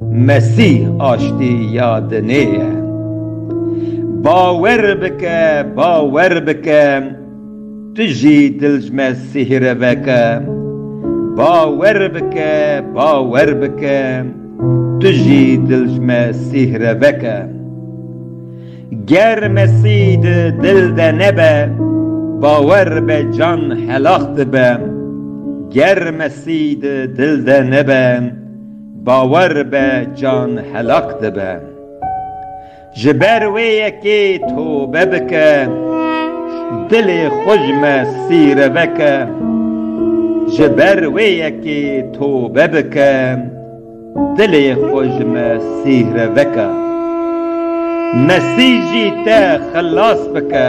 Mesîh aştî ya dinê ye. Bawer bike, bawer bike, tu jî dilcme sihre veke. Bawer bike, bawer bike, tu jî dilcme sihre veke. Ger Mesîh di dil de nebe, bawer be can helax dibe. Ger Mesîh di dil de nebe, Bawer be can helak dibe. Ji ber wê yekê tobe bike, dilê xwe ji me sîre veke. Ji ber wê yekê tobe bike, dilê xwe ji me sîre veke. Mesîh jî te xilas bike.